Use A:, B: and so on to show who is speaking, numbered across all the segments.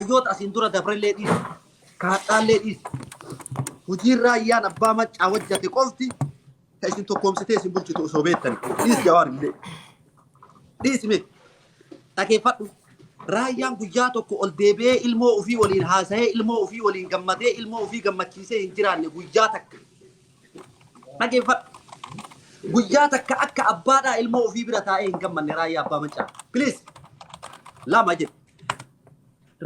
A: Rajoota asiin dura dabrellee dhiisi. Kaadhaallee dhiisi. Hojiin raayyaan abbaa maccaa hojjate qofti ta isin tokkoomsitee isin bulchitu osoo beektani. Dhiisi jawaar illee. Dhiisi mee. Dhageeffadhu. Raayyaan guyyaa tokko ol deebi'ee ilmoo ofii waliin haasa'ee ilmoo ofii waliin gammadee ilmoo ofii gammachiisee hin jiraanne guyyaa takka. Dhageeffadhu. Guyyaa takka akka abbaadhaa ilmoo ofii bira taa'ee hin gammanne raayyaa abbaa maccaa. Please. Lama jedhe.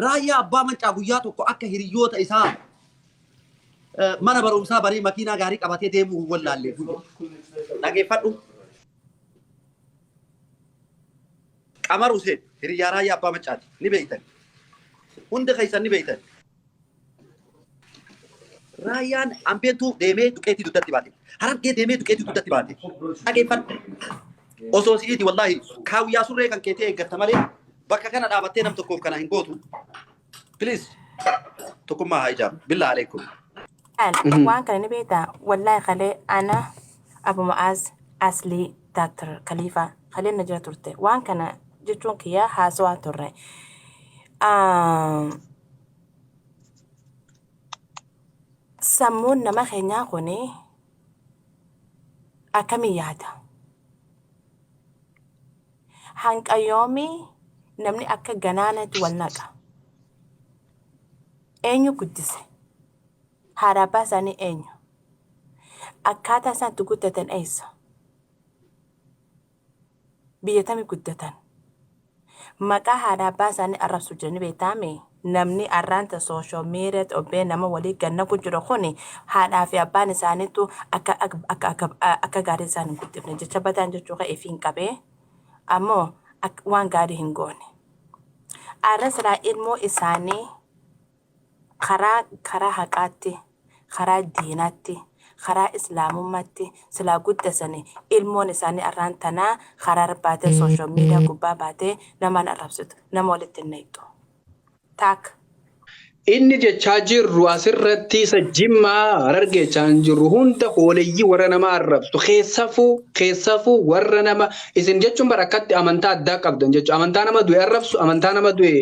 A: Raayyaa Abbaa Mancaa guyyaa tokko akka hiriyoota isaa eh, mana barumsaa baree makiinaa gaarii qabatee deemuu hin wallaallee. Dhageeffadhu. Qamar Huseen hiriyaa Raayyaa Abbaa Mancaati. Ni beektan. Hundi keessan ni beektan. Raayyaan Ambeentuu deemee duqeetii dugdatti baate. Harargee deemee duqeetii dugdatti baate. Dhageeffadhu. Osoo si'iti wallaahi kaawwiyaa surree kan keetii eeggatta malee bakka kana dhaabattee nam tokkoof kana hin gootu. Please tokkummaa haa ijaaru. Billaa aleekum. Kan
B: waan kana ni beektaa wallaahi kalee ana Abu Ma'aaz Aslii Daaktar Kaliifaa kaleen na jira turte waan kana jechuun kiyyaa haasawaa turre. Ah, Sammuun nama keenyaa kun akkamiin yaada? Hanga yoomii namni akka ganaanatti wal naqa? Eenyu guddise? Haadha abbaa isaanii eenyu? Akkaataa isaan itti guddatan eessa? Biyya tami guddatan? Maqaa haadha abbaa isaanii arrabsu jiru ni beektaa mi? Namni arraan tan social media ti obbee nama walii gad naqu jiru kuni haadhaa fi abbaan isaaniitu akka akka akka akka gaarii isaan hin guddifne jecha badaan jechuu kee ifiin qabee ammoo akka waan gaarii hin goone. Arra silaa ilmoo isaanii Karaa karaa haqaatti karaa diinaatti karaa islaamummaatti silaa guddasani ilmoon isaanii arraan tanaa karaa irra baatee social media gubbaa baatee namaan arrabsitu nama walitti hin nayxu taakka.
C: Inni jechaa jirru asirratti isa jimmaa harargee jechaa hin jirru hunda hooleyyii warra nama arrabsu keessafuu keessafuu warra nama isin jechuun bara akkatti amantaa addaa qabdan jechu amantaa nama du'e arrabsu amantaa nama du'e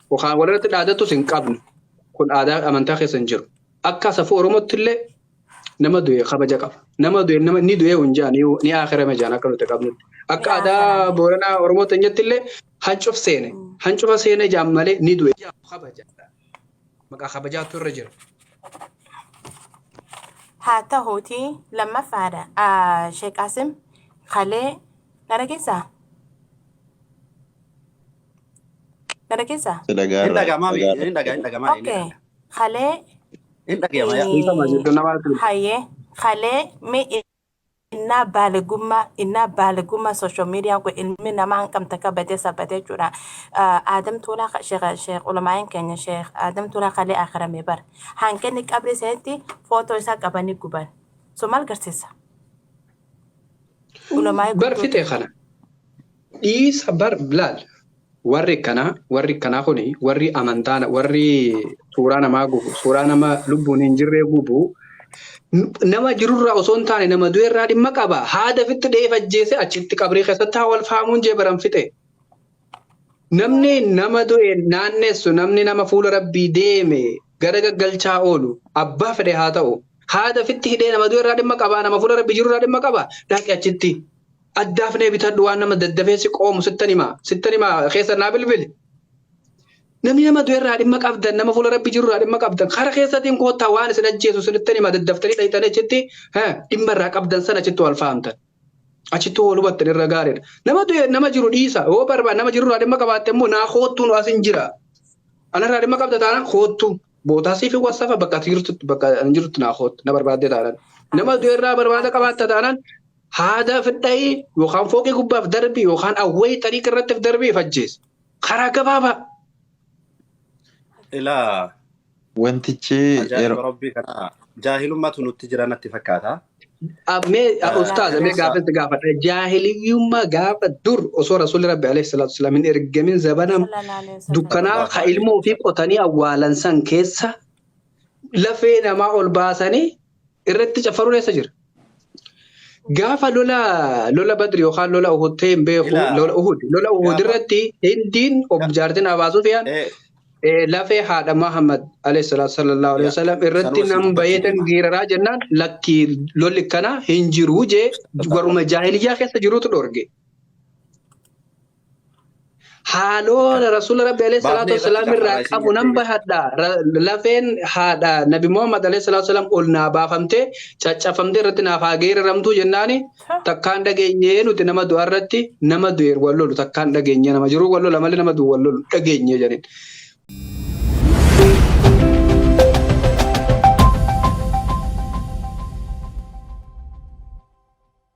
C: Kan walirratti dhaadattus hin qabnu. Kun aadaa amantaa keessa hin jiru. Akka safuu Oromootti illee nama du'e kabaja qaba. Nama du'e nama ni du'e hin jaan ni akirame jaan akka nuti qabnutti. Akka Ni aadaa aakirame. Booranaa Oromoo teenyatti illee hancuf seene. Hancufa seene jaan malee ni du'e jaan kabaja. Maqaa kabajaatu irra jira.
B: Haa ta'uutii lammaffaadha. Ah, Sheek Qaasim Kalee na dhageessaa? Na dhageessaa? Si dhagaa Hin irraa dhaga'amaa mi? dhagaa Hin dhagaa hin dhaga'amaa inni Okay. kana. Kalee Hin dhaga'ama yaa. Dhiifama eh, jechuun nama arginu. hayyee kalee mi innaa baaligummaa innaa baaligummaa social media kun ilmi namaa hangam takka badee sabbatee jechuudha. Ah, Aadam Tuulaa ka- sheekh sheekh ulamaa'een keenya sheekh Aadam Tuulaa kalee akhiramee bar. Hanqinni qabri isaatti footoo isaa qabanii guban. So maal garsiisa? Ulamaa bar gurguddoota. fixee kana
C: dhiisa bar laal warri kanaa warri kanaa kuni warri amantaa warri suuraa namaa gubu suuraa nama lubbuun hin jirree gubu n- nama jirurraa osoo hin taane nama du'erraa dhimma qaba haada fitti dheef ajjeese achitti qabrii keessatti haa wal faamuun jee baran fixee Namni nama du'e naannessu, namni nama fuula Rabbii deeme gara gaggalchaa oolu, abbaa fedhe haa ta'u, haada fitti hidhee nama du'e irraa dhimma qabaa, nama fuula Rabbii jiru irraa dhimma qabaa, dhaqi achitti addaafnee bitadhu waan nama daddafee si qoomu sittan himaa, sittan himaa keessa naa bilbili. Namni nama du'e irraa dhimma qabdan, nama fuula Rabbii jiru irraa dhimma qabdan, kara keessatiin koottaa waan isin ajjeesu sinittan himaa daddaftanii dhaqxanii achitti dhimma irraa qabdan sana achitti wal fahamtan. Achittuu wal hubattan irra gaariidha. Nama du'e nama jiru dhiisa. Yoo barbaade nama jirurraa dhimma qabaatte immoo naa koottuu nu asin jira. Anarraa dhimma qabda taanaan koottu. Bootaa siif hin wassafa bakka ati jirtutti bakka ani jirtutti naa koottu na barbaaddee taanaan. Nama du'e irraa barbaada qabaatta taanaan haada fidhayi yookaan fooqii gubbaaf darbi yookaan awwayii xariiqa irratti darbi if ajjeesi. Karaa gabaabaa. Ilaa
D: Wantichi Ajaa'iba yeroo
A: rabbii kanaa jaahilummatu nutti jira natti fakkaata. Ab- Mee Eh, Wallaahi
C: ustaaza mee kaleessa gaafatti gaafadha. Jaahiliyyummaa gaafa dur osoo rasuulli rabbi alayhi salaatu wasalaam hin ergamin zabana sallallahu alaihi wasallam dukkanaa sallallahu ka alaihi ilmoo fi wasallam. qotanii awwaalan san keessa lafee namaa ol baasanii irratti caffaruun eessa jira? Gaafa lola lola Badri yookaan lola Uhud ta'e hin beeku Ilaa. lola Uhud lola Uhud Gaafa- irratti Hindiin ob Ga- jaartin Abaa Sufiyaan Eh, eh, lafee haadha Muhammad alayhi salaatu sallallahu alayhi Ya, wasallam irratti sanuma si nan dubbachuu bayeetan deema. giiraraa jennaan lakkii lolli kana hin jiru jee warruma jaahiliyyaa keessa jirutu dhorge. haaloona rasuula rabbi alayhi salaatu Baafnee wassalaam irratti irraa lafarraa qabu isiin nan jettee bahadha Ra- lafeen haadha nabi muhammad alayhi salaatu wassalaam ol naa baafamtee caccafamtee irratti naaf haa geeraramtuu jennaani Ta. takkaan dhageenyee nuti nama du'a irratti nama du'e wal lolu takkaan dhageenyee nama jiruu wal lola malee nama du'u wal lolu dhageenyee jedhin